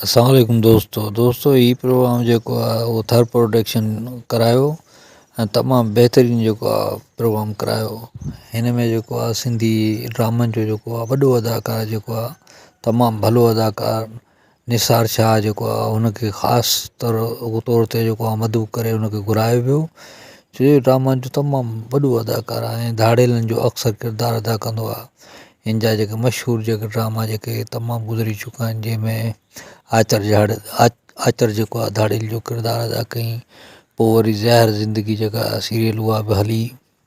السلام عليڪم دوستو دوستو هي پروگرام جيڪو آهي اهو ٿر پروڊڪشن ڪرايو ۽ تمام بهترين جيڪو آهي پروگرام ڪرايو هن ۾ جيڪو آهي سنڌي ڊرامن جو جيڪو آهي وڏو اداڪار جيڪو آهي تمام ڀلو اداڪار نثار شاهه جيڪو آهي هن کي خاص طور طور تي جيڪو آهي مدعو ڪري هن کي گهرايو ويو ڇو جو ڊرامن جو تمام وڏو اداڪار آهي ۽ ڌاڙيلن جو اڪثر ڪردار ادا ڪندو آهي هن جا جيڪي مشهور جيڪي ڊراما جيڪي تمام گذري چڪا آهن جنهن ۾ آچر جهڙ آچر جيڪو آهي ڌاڙيل جو ڪردار ادا ڪيائين پوء وري زهر زندگي جيڪا سيريل اها به هلي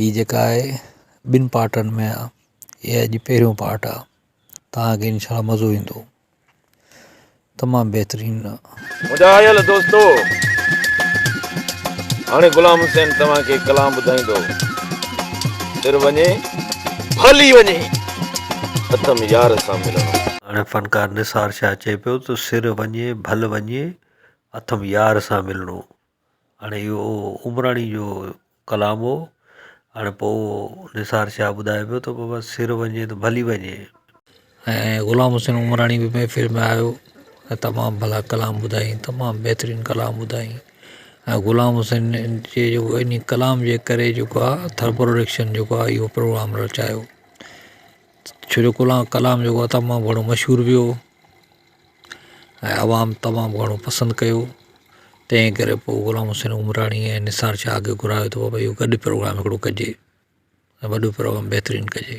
هي جيڪا آهي ٻن پارٽن ۾ آهي هي اڄ پهريون پارٽ آهي توهان کي انشاء الله مزو ايندو تمام بهترين مجاهيل دوستو هاڻي غلام حسين توهان کي ڪلام ٻڌائيندو سر وڃي ڀلي وڃي اٿم يار سان ملڻو هاڻي فنڪار نثار شاهه چئي پيو ته سر وڃي ڀل وڃي اٿم يار سان ملڻو هاڻي اهو عمراڻي جو ڪلام هو هاڻي پوء نثار شاهه ٻڌائي پيو ته بابا سر وڃي ته ڀلي وڃي ۽ غلام حسين عمراڻي به محفل ۾ آيو ۽ تمام ڀلا ڪلام ٻڌائين تمام بهترين ڪلام ٻڌائين ۽ غلام حسين جي جيڪو ان ڪلام جي ڪري جيڪو آ ٿر پروڊڪشن جيڪو آ اهو پروگرام رچايو ڇو جو ڪلام جيڪو آ تمام گهڻو مشهور ويو ۽ عوام تمام گهڻو پسند ڪيو تنهن ڪري پوء غلام حسين عمراڻي ۽ نثار شاهه کي گهرايو ته بابا اهو گڏ پروگرام هڪڙو ڪجي ۽ وڏو پروگرام بهترين ڪجي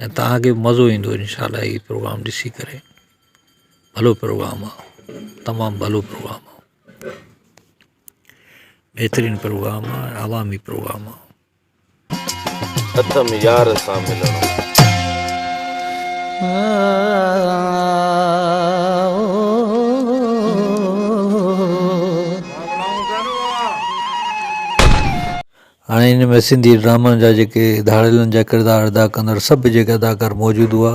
۽ تهانکي به مزو ايندو انشاء الله هي پروگرام ڏسي ڪري ڀلو پروگرام آهي تمام ڀلو پروگرام آهي بهترين پروگرام آهي عوامي پروگرام آهي اٿم يار سان ملڻو. هاڻي ان ۾ سنڌي ڊرامن جا جيڪي ڌاڙيلن جا ڪردار ادا ڪندڙ سڀ جيڪي اداڪار موجود هئا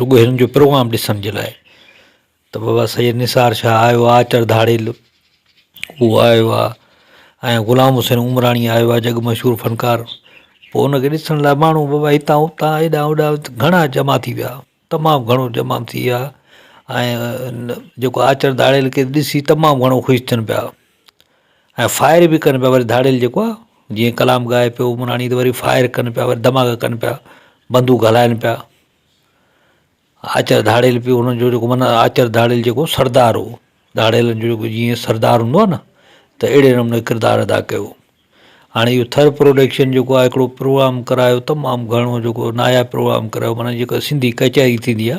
رڳو هنن جو پروگرام ڏسڻ جي لاء ته بابا سيد نثار شاهه آيو آ چڙ ڌاڙيل هو آيو آ ۽ غلام حسين عمراڻي آيو آ جڳ مشهور فنڪار پوء ان کي ڏسڻ لاء ماڻهو بابا هتان هتان هيڏانهن هوڏانهن گهڻا جمع ٿي ويا تمام گهڻو جمع ٿي ويا ۽ جيڪو آ چڙ ڌاڙيل کي ڏسي تمام گهڻو خوش ٿين پيا ۽ فائر به ڪن پيا وري ڌاڙيل جيڪو آ جيئن ڪلام ڳائي پيو عمراڻي ته وري فائر ڪن پيا وري دھماڪا ڪن پيا بندوق ھلائن پيا آچر ڌاڙيل پيو ھنن جو جيڪو معنيٰ آچر ڌاڙيل جيڪو سردار ھو ڌاڙيل جو جيڪو جيئن سردار ھوندو آ ن ته اھڙي نموني ڪردار ادا ڪيو ھاڻي اھو ٿر پروڊڪشن جيڪو آ ھڪڙو پروگرام ڪرايو تمام گھڻو جيڪو ناياب پروگرام ڪرايو معنيٰ جيڪا سنڌي ڪچھري ٿيندي آ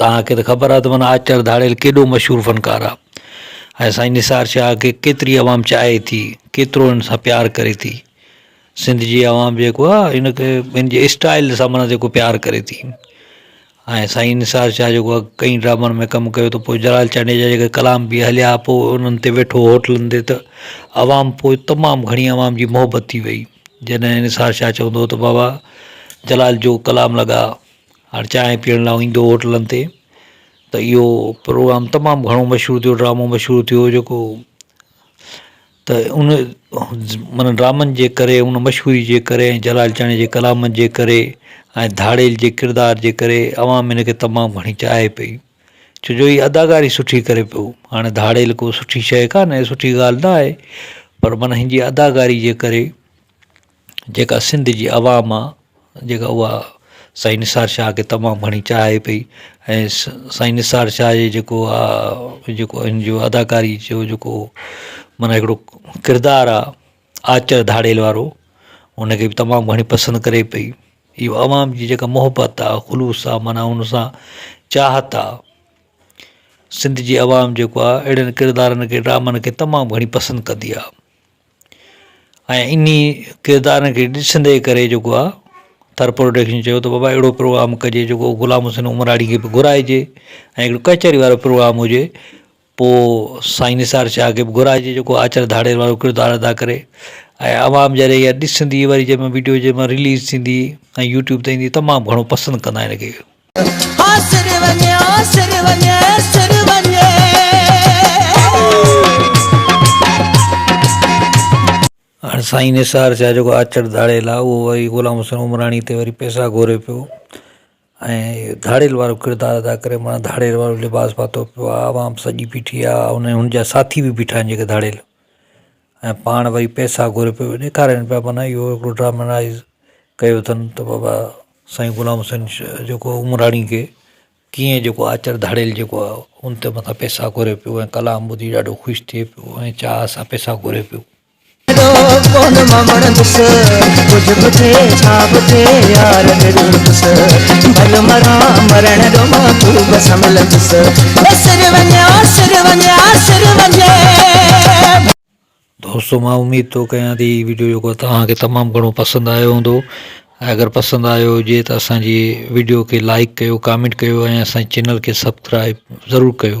توهان کي ته خبر آهي ته معنيٰ آچر ڌاڙيل ڪيڏو مشهور فنڪار آهي ۽ سائين نثار شاهه کي ڪيتري عوام چاهي ٿي، ڪيترو هن سان پيار ڪري ٿي. سنڌ جي عوام جيڪو آهي هن کي هن جي اسٽائيل سان معنيٰ جيڪو پيار ڪري ٿي ۽ سائين نثار شاهه جيڪو آهي ڪئين ڊرامن ۾ ڪم ڪيو ته پوء جلال چانڊيا جا جيڪي ڪلام به هليا پوء انهن تي ويٺو هوٽلن تي ته عوام پوء تمام گهڻي عوام جي محبت ٿي وئي جڏهن نثار شاهه چوندو هو ته بابا جلال جو ڪلام لڳا هر چانهه پيئڻ لاء ايندو هو هوٽلن تي ته اهو پروگرام تمام گهڻو مشهور ٿيو ڊرامو مشهور ٿيو جيڪو ته ان معنيٰ ڊرامن جي ڪري ان مشهوري جي ڪري ۽ جلال چانهيو جي ڪلام جي ڪري ۽ ڌاڙيل جي ڪردار جي ڪري عوام ان کي تمام گهڻي چاهي پئي ڇو جو هي اداڪاري سٺي ڪري پيو هاڻي ڌاڙيل ڪو سٺي شيء ڪانهي سٺي ڳالهه ناهي پر معنيٰ هن جي اداڪاري جي ڪري جيڪا سنڌ جي عوام آ جيڪا اها سائين نثار شاهه کي تمام گهڻي چاهي پئي ۽ سائين نثار شاهه جي جيڪو آ جيڪو ان جو اداڪاري جو جيڪو معنيٰ هڪڙو ڪردار آ آچر ڌاڙيل وارو ان کي بي تمام گهڻي پسند ڪري پئي اهو عوام جي جيڪا محبت آ خلوص آ معنيٰ ان سان چاهت آ سنڌ جي عوام جيڪو آ اهڙن ڪردارن کي ڊرامن کي تمام گهڻي پسند ڪندي آ ۽ انهي ڪردارن کي ڏسندي ڪري جيڪو آ ٿر پروڊڪشن چيو ته بابا اهڙو پروگرام ڪجي جيڪو غلام حسين عمراڻي کي به گهرائجي ۽ هڪڙو ڪچهري وارو پروگرام هجي پوء سائين نثار شاهه کي به گهرائجي جيڪو آچر ڌاڙيل وارو ڪردار ادا ڪري ۽ عوام جڏهن اها ڏسندي وري جنهن مهل وڊيو جنهن مهل رليز ٿيندي ۽ يوٽيوب تي ايندي تمام گهڻو پسند ڪندا آهن ان کي هاڻ سائين نثار شاهه جيڪو آچر ڌاڙيل آهي اهو وري غلام حسين عمراڻي تي وري پئسا گهوري پيو ۽ ڌاڙيل وارو ڪردار ادا ڪري معنيٰ ڌاڙيل وارو لباس پاتو پيو آهي عوام سڄي بيٺي آهي ان هن جا ساٿي به بيٺا آهن جيڪي ڌاڙيل ۽ پاڻ وئي پئسا گهري پيو وڃي ڏيکارين پيا معنيٰ اهو هڪڙو ڊرامائيز ڪيو اٿن ته بابا سائين غلام حسين جيڪو عمراڻي کي ڪيئن جيڪو آچر ڌاڙيل جيڪو آهي ان تي متان پئسا گهري پيو ۽ ڪلام ٻڌي ڏاڍو خوش ٿئي پيو ۽ چاهه سان پئسا گهري پيو دوستو مان اميد ٿو ڪيان ٿي هي وڊيو جيڪو آهي توهان کي تمام گهڻو پسند آيو هوندو ۽ اگر پسند آيو هجي ته اسان جي وڊيو کي لائڪ ڪيو ڪامينٽ ڪيو ۽ اسان جي چينل کي سبڪرائب ضرور ڪيو